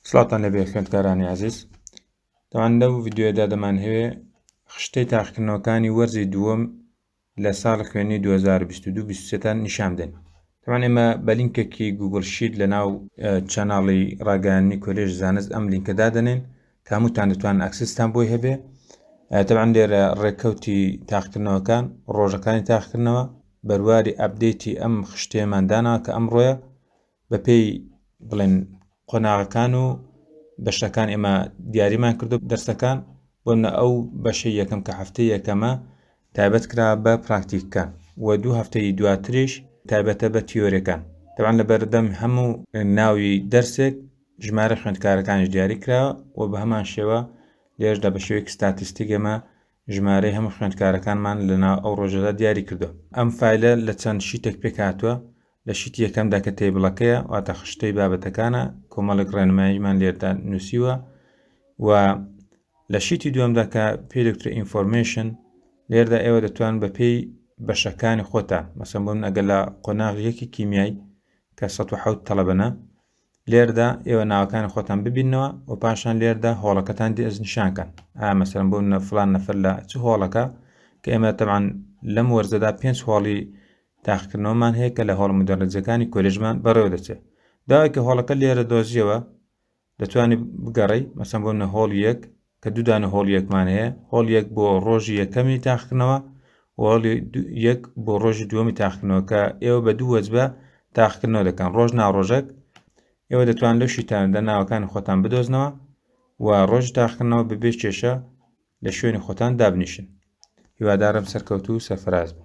سڵاتان لەبێ خوێندکارانی عزیز دەوان لەو ڤیددیوەدا دەمان هەوێ خشتەی تاقکردنەوەکانی وەرزی دووەم لە ساڵ خوێنی 2022-23تان نیشان بدەن تەوان ئێمە بە لینکێکی گوگل شید لە ناو چەناڵی ڕاگەیاننی کۆلێژ زانست ئەم لینکە دادنێن کاموتان دەتوان ئەکسستان بۆی هەبێ تەوان لێرە ڕێککەوتی تاقکردنەوەکان ڕۆژەکانی تاقکردنەوە بەرواری ئەبدەیتی ئەم خشتێمان دانا کە ئەمڕۆیە بەپێی بڵێن قۆناغەکان و بەشەکان ئێمە دیاریمان کردو دەرسەکان بۆنە ئەو بەشە یەکەم کە هەفتە یەکەمە تایبەت کرا بە پراکتیککان و دوو هەفتەی دواتریش تایبەتە بە تیۆرەکان تەوان لە بەردەم هەموو ناوی دەرسێک ژمارە خوێندکارەکانش دیاری کرا و بە هەمان شێوە لێژدا بە شێوەیەک ستاتیستیکێمە ژمارەی هەموو خوێندکارەکانمان لەنا ئەو ڕۆژەدا دیاری کردو ئەم فیلە لە چەند شیتێک پێکاتوە لە شیتی یەکەمدا کە تەیبڵەکەیە واتە خشتەی بابەتەکانە کۆمەڵێک ڕێنماییمان لێردا نووسیوە و لە شیتی دووەمدا کە پێ دکتۆر ئینفۆرمێشن لێردا ئێوە دەتوان بە پێی بەشەکانی خۆتان مەسم بۆ من ئەگەر لە قۆناغ یەکی کیمیای کە 1970 تەلەبەنە لێردا ئێوە ناوەکانی خۆتان ببینەوە و پاشان لێردا هۆڵەکەتان دی ئەز نیشانکەن ئامەسەرم بۆ نەفلان نەفر لە چ هۆڵەکە کە ئێمە تەمان لەم وەرزەدا پێنج هۆڵی تاقیکردنەوەمان هەیە کە لە هۆڵە مدەرەجەکانی کۆلێژمان بەڕێوە دەچێت داوای کە هۆڵەکە لێرە دۆزیەوە دەتوانانی بگەڕی مەسەن بۆ نە هۆڵ یەک کە دوودانە هۆڵ یەکمان هەیە هۆڵ یەک بۆ ڕۆژی یەکەمی تاقکردنەوە وڵی یەک بۆ ڕۆژی دووەمی تاقکردنەوە کە ئێوە بە دوو وەجبە تاقکردنەوە دەکەن ڕۆژ ناڕۆژەک ئێوە دەتوان لەو شیتان دە ناوەکانی خۆتان بدۆزنەوە و ڕۆژ تاقکردنەوە ببێ کێشە لە شوێنی خۆتان دابنیشن هیوادارم سەرکەوتو و سەرفراز بن